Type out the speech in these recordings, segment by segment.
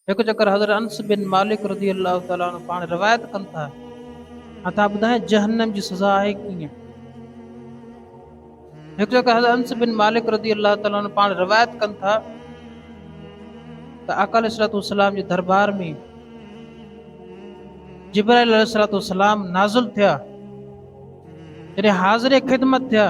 هڪ چڪر حضرت انس بن مالڪ رضي الله تعالٰي عنه پاڻ روايت ڪن ٿا ۽ ٿا ٻڌائين جهنم جي سزا آهي ڪيئن؟ هڪ چڪر حضرت انس بن مالڪ رضي الله تعالٰي عنه پاڻ روايت ڪن ٿا ته آقا عليه الصلوۃ والسلام جي دربار ۾ جبرائيل عليه الصلوۃ والسلام نازل ٿيا جڏهن حاضر خدمت ٿيا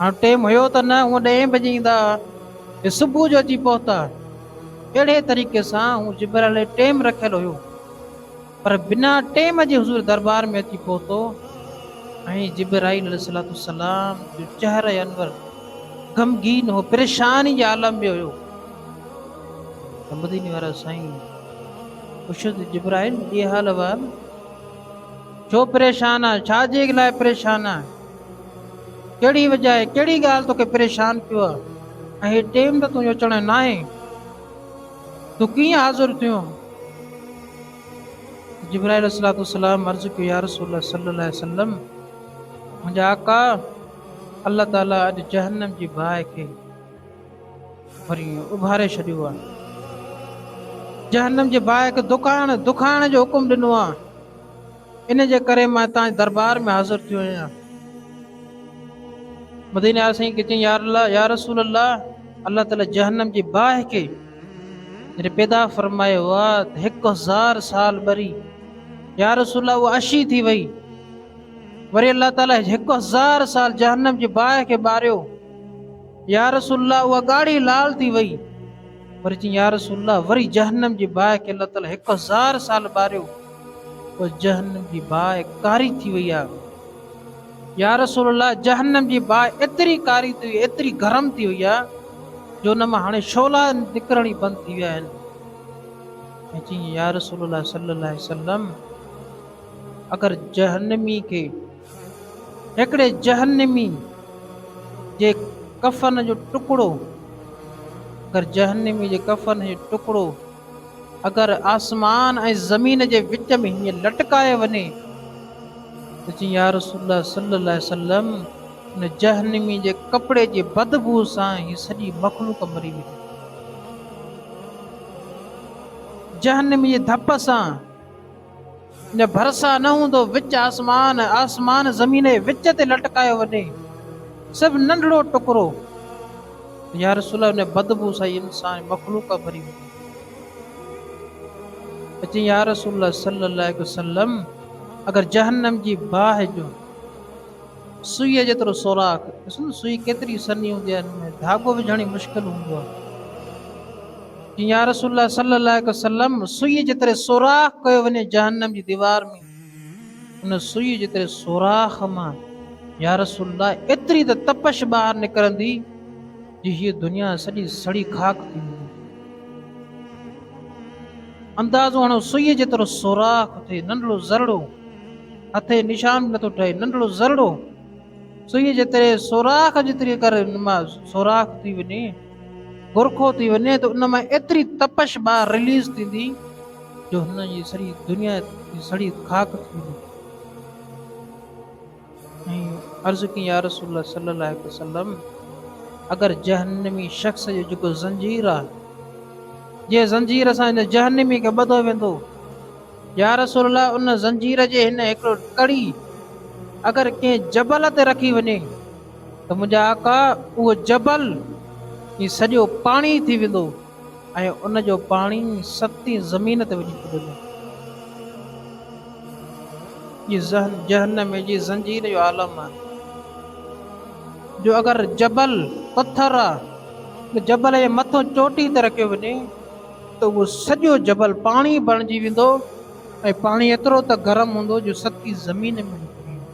هاڻ ٽيم هيو ته نه هونء ڏهين بجي ايندا ۽ صبح جو اچي پهتا. اهڙي طريقي سان هو جبرائيل لاء ٽيم رکيل هيو، پر بنا ٽيم جي حضور دربار ۾ اچي پهتو ۽ جبرائيل عليه السلام جو چهره انور غمگين هو، پريشاني جي عالم ۾ هيو ته مديني وارا سائين پڇيس ته جبرائيل اي حال احوال، ڇو پريشان آهي، ڇا جي لاء پريشان آهي؟ ڪهڙي وجهه آهي؟ ڪهڙي ڳالهه توکي پريشان ڪيو آهي؟ ۽ هي ٽيم ته تنهنجو اچڻ جو ناهي. تون ڪيئن حاضر ٿيو؟ جبرائيل عليه الصلوة والسلام عرض ڪيو، يا رسول الله صلي الله عليه وسلم! منهنجا آقا الله تعاليٰ اڄ جهنم جي باهه کي وري اڀاري ڇڏيو آهي. جهنم جي باهه کي دکائڻ، دکائڻ جو حڪم ڏنو آهي. ان جي ڪري مان هتان جي دربار ۾ حاضر ٿيو آهيان. مديني آيا سائين کي چيائين يارالله يا رسول الله الله تعالي جهنم جي باهه کي جڏهن پيدا فرمائي هئا ته هڪ هزار سال ٻري يا رسول الله اها اشي ٿي وئي وري الله تعالي هڪ هزار سال جهنم جي باهه کي ٻاريو يا رسول الله اها ڳاڙهي لال ٿي وئي وري چيائين يا رسول الله وري جهنم جي باهه کي الله تعالي هڪ هزار سال ٻاريو پوء جهنم جي باهه ڪاري ٿي وئي آهي. يا رسول الله! جهنم جي باهه ايتري ڪاري ٿي وئي، ايتري گرم ٿي وئي آهي جو ان مان هاڻي شعلا نڪرڻ ئي بند ٿي ويا آهن. مون چيائين، يا رسول الله صلي الله عليه وسلم! اگر جهنمي کي هڪڙي جهنمي جي ڪفن جو ٽڪڙو اگر جهنمي جي ڪفن جو ٽڪڙو اگر آسمان ۽ زمين جي وچ ۾ هيئن لٽڪايو وڃي ته چئي يا رسول الله صلي الله عليه وسلم ان جهنمي جي ڪپڙي جي بدبو سان هي سڄي مخلوق مري ويندي جهنمي جي ڌپ سان جو ڀرسان نه هوندو وچ آسمان آسمان زمين جي وچ تي لٽڪايو وڃي صرف ننڍڙو ٽڪرو يا رسول الله ان بدبو سان انسان مخلوق ڀري وڃي اچي يا رسول الله صلي الله عليه وسلم اگر جهنم جي باهه جو سوئيء جيترو سوراخ، ڏسو ته سوئي ڪيتري سنهي هوندي آهي، ان ۾ ڌاڳو وجهڻ ئي مشڪل هوندو آهي. چيائين، يا رسول الله صلّي الله عليه وسلّم! سوئيء جيتري سوراخ ڪيو وڃي جهنّم جي ديوار ۾، ان سوئيء جيتري سوراخ مان، يا رسول الله! ايتري ته تپش ٻاهر نڪرندي، جو هيء دنيا سڄي سڙي خاڪ ٿي ويندي. اندازو هڻو، سوئيء جيترو سوراخ ٿئي، ننڍڙو ذرڙو! هٿي نشان به نٿو ٺهي ننڍڙو ذرڙو سوئي جي تري سوراخ جيتري ڪر ان مان سوراخ ٿي وڃي برخو ٿي وڃي ته ان مان ايتري تپش ٻاهر رليز ٿيندي جو هن جي سري دنيا جي سڙي خاڪ ٿي ويندي عرض ڪي يا رسول الله صلي الله عليه وسلم اگر جهنمي شخص جو جيڪو زنجير آ جي زنجير سان ان جهنمي کي ٻڌو ويندو يا رسول الله ان زنجير جي هن هڪڙو ڪڙي اگر ڪنهن جبل تي رکي وڃي ته منهنجا آقا اهو جبل هي سڄو پاڻي ٿي ويندو ۽ ان جو پاڻي ستين زمين تي وڃي ڪرندو. هي ذهن جهنم جي زنجير جو عالم آهي جو اگر جبل پٿر آهي جبل جي مٿو چوٽي تي رکيو وڃي ته اهو سڄو جبل پاڻي بڻجي ويندو ۽ پاڻي ايترو ته گرم هوندو جو سڪي زمين ۾ نڪري ايندو.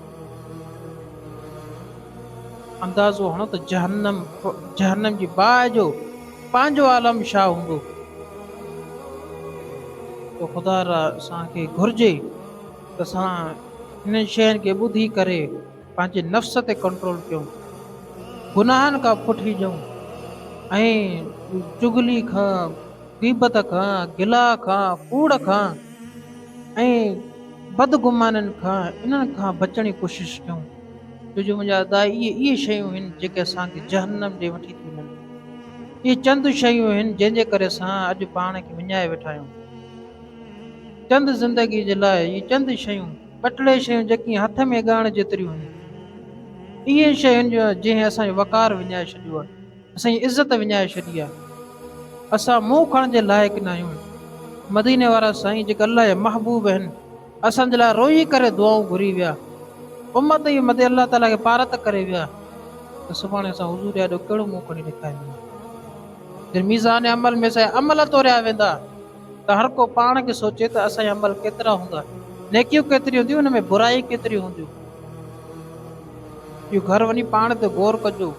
اندازو هڻو ته جهنم، جهنم جي باهه جو پنهنجو عالم ڇا هوندو. تو خدا را اسان کي گهرجي ته اسان هنن شين کي ٻڌي ڪري. پنهنجي نفس تي ڪنٽرول ڪيون، گناهن کان پٺي ڄئون ۽ چغلي کان، غيبت کان، گلا کان، ڪوڙ کان ۽ بدگمانين کان انهن کان بچڻ جي ڪوشش ڪيون، ڇو جو منهنجا داء اهي اهي شيون هن جيڪي اسان کي جهنم ڏي وٺي ٿيون وڃن. اهي چند شيون هن جنهن جي ڪري اسان اڄ پاڻ کي وڃائي ويٺا آهيون. چند زندگي جي لاء اهي چند شيون. ٻه ٽي شيون جيڪي هٿ ۾ ڳائڻ جيتريون هيون اهي شيون جو جنهن اسان جو وقار وڃائي ڇڏيو آهي اسان جي عزت وڃائي ڇڏي آهي اسان منهن کڻڻ جي لائق نه آهيون مديني وارا سائين جيڪي الله جا محبوب آهن اسان جي لاء روئي ڪري دعائون گهري ويا امت جي مدي الله تعاليٰ کي پارت ڪري ويا ته سڀاڻي اسان حضور جا ڏو ڪهڙو منهن کڻي ڏيکارينداسين جن ميزان عمل ۾ سائين عمل توريا ويندا ته هر ڪو پاڻ کي سوچي ته اسان جا عمل ڪيترا هوندا، نيڪيون ڪيتريون هونديون ان ۾ برائيون ڪيتريون هونديون. اهو گهر وڃي پاڻ تي غور ڪجو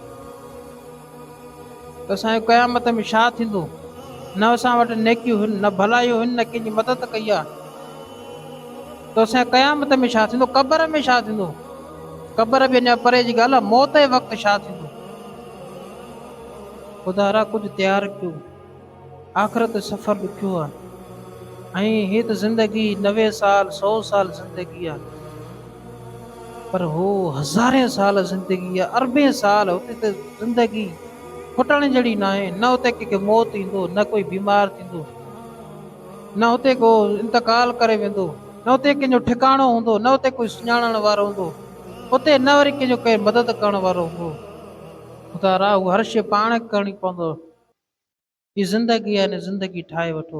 ته اسان جو قيامت ۾ ڇا ٿيندو، نه اسان وٽ نيڪيون هن نه ڀلايون هن نه ڪنهن جي مدد ڪئي آ ته اسان جي قيامت ۾ ڇا ٿيندو، قبر ۾ ڇا ٿيندو، قبر به اڃا پري جي ڳالهه آ موت جي وقت ڇا ٿيندو. خدارا ڪجهه تيار ڪيو. آخرت جو سفر ڏکيو آ ۽ هيء ته زندگي نوي سال سؤ سال زندگي آ پر هو هزارين سال زندگي آ اربين سال اتي ته زندگي کٽڻ جهڙي ناهي نه اتي ڪنهن کي موت ايندو نه ڪوئي بيمار ٿيندو نه اتي ڪو انتقال ڪري ويندو نه اتي ڪنهن جو ٺڪاڻو هوندو نه اتي ڪوئي سڃاڻڻ وارو هوندو اتي نه وري ڪنهن جو ڪير مدد ڪرڻ وارو هوندو. خدا را هو هر شيء پاڻ ڪرڻي پوندو. هي زندگي آهي هن زندگي ٺاهي وٺو.